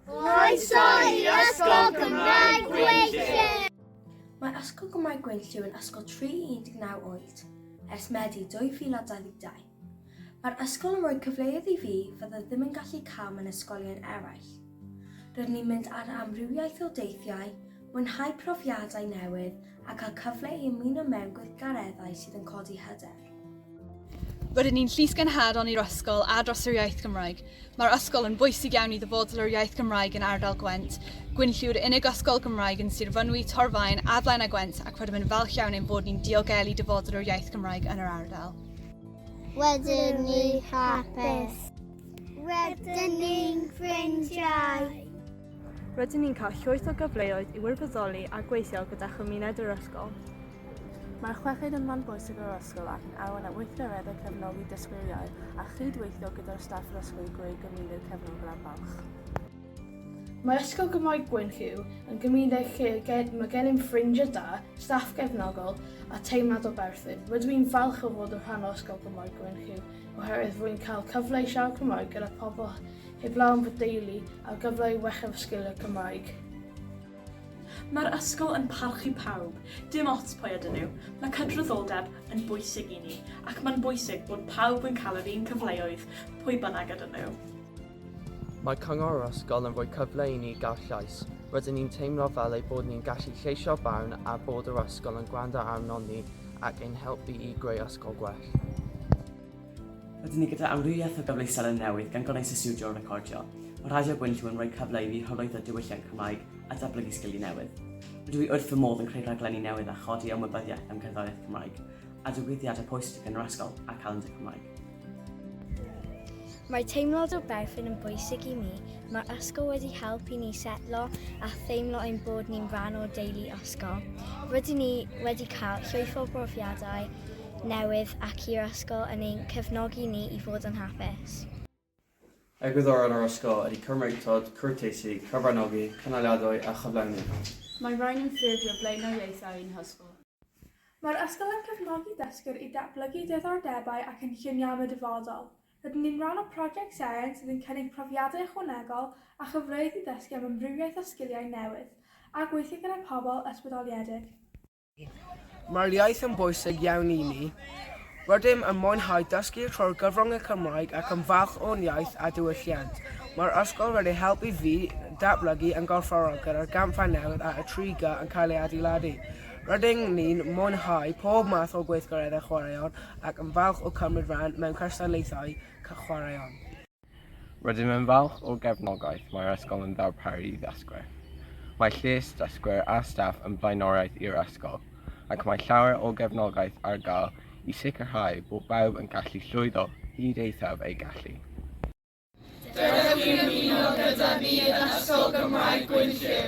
Croeso i Ysgol Gymraeg Gwynllyn! Mae Ysgol Gymraeg Gwynllyn yn ysgol 319 oed ers Medi 2022. Mae'r ysgol yn rhoi cyfleoedd i fi fydda ddim yn gallu cael mewn ysgolion eraill. Rydyn ni'n mynd ar amrywiaeth o deithiau, mwynhau profiadau newydd a cael cyfle i ymuno mewn gweithgareddau sydd yn codi hyder. Rydyn ni'n llys gynhadon i'r ysgol a dros yr iaith Gymraeg. Mae'r ysgol yn bwysig iawn i ddyfodol yr iaith Gymraeg yn ardal Gwent. Gwynlli yw'r unig ysgol Gymraeg yn Sir Fynwy, Torfaen, Adlaen a Gwent ac rydym yn falch iawn ein bod ni'n diogelu dyfodol yr iaith Gymraeg yn yr ardal. Wedyn ni hapus. Wedyn ni'n ffrindiau. Rydyn ni'n cael llwyth o gyfleoedd i wirfoddoli a gweithio gyda chymuned yr ysgol. Mae'r chweched yn ran bwysig o'r ysgol ac yn arwain at weithgareddau cefnogi dysgwyriaeth a chyd-weithio gyda'r staff ddysgwyr greu gymuned cefnogol a balch. Mae Ysgol Gymraeg Gwyn Hugh yn gymuned lle mae gennym ffrindiau da, staff gefnogol a teimlad o berthyn. Rydw i'n falch o fod yn rhan o Ysgol Gymraeg Gwyn Hugh oherwydd rwy'n cael cyfle i siarad Cymraeg gyda phobl heblaw am fy deulu a'r gyfle i wella fy sgiliau Cymraeg. Mae'r ysgol yn parchu pawb, dim ots pwy ydyn nhw. Mae cydraddoldeb yn bwysig i ni, ac mae'n bwysig bod pawb yn cael yr un cyfleoedd, pwy bynnag ydyn nhw. Mae Cyngor yr Ysgol yn rhoi cyfle i ni gael llais. Rydyn ni'n teimlo fel ein bod ni'n gallu lleisio barn a bod yr ysgol yn gwrando arnon ni ac ein helpu i greu ysgol gwell. Rydyn ni gyda amrywiaeth o gyfleusder yn newydd gan gynnwys y stiwdio recordio. Mae Radio Gwynllwyn yn rhoi cyfle i fi hyrwyddo diwylliant Cymraeg a datblygu sgiliau newydd. Rydw i wrth fy modd yn creu rhaglenni newydd a chodi ymwybyddiaeth am gerddoriaeth Cymraeg, a digwyddiadau pwysig yn yr ysgol a Calendr Cymraeg. Mae teimlad o berthyn yn bwysig i mi. Mae'r ysgol wedi helpu ni setlo a theimlo ein bod ni'n rhan o'r deulu ysgol. Rydyn ni wedi cael llwyth o brofiadau newydd ac i'r ysgol yn ein cefnogi ni i fod yn hapus. Egwyddorion yr ysgol ydy cymryd clod, cwrteisi, cyfranogi, cynaliadwy a chyflawni. Mae rhain yn ffurfio blaenoriaethau ein hysgol. Mae'r ysgol yn cefnogi dysgwyr i ddatblygu diddordebau a chynlluniau am y dyfodol. Rydyn ni'n rhan o Project Seren sydd yn cynnig profiadau ychwanegol a chyfleoedd i ddysgu am amrywiaeth o sgiliau newydd a gweithio gyda phobl ysbrydoliedig. Mae'r iaith yn bwysig iawn i mi. Rydym yn mwynhau dysgu trwy'r gyfrwng y Cymraeg ac yn falch o'n iaith a diwylliant. Mae'r ysgol wedi helpu fi datblygu yn gorfforol gyda'r gampfa newydd a Y3G yn cael ei adeiladu. Rydyn ni'n mwynhau pob math o gweithgareddau chwaraeon ac yn falch o cymryd rhan mewn cystadlaethau chwaraeon. Rydym yn falch o'r gefnogaeth mae'r ysgol yn ddarparu i ddysgwyr. Mae lles dysgwyr a staff yn flaenoriaeth i'r ysgol, ac mae llawer o gefnogaeth ar gael i sicrhau bod bawb yn gallu llwyddo hyd eithaf ei gallu. Dewch i ymuno gyda ni yn Ysgol Gymraeg Gwynllyw!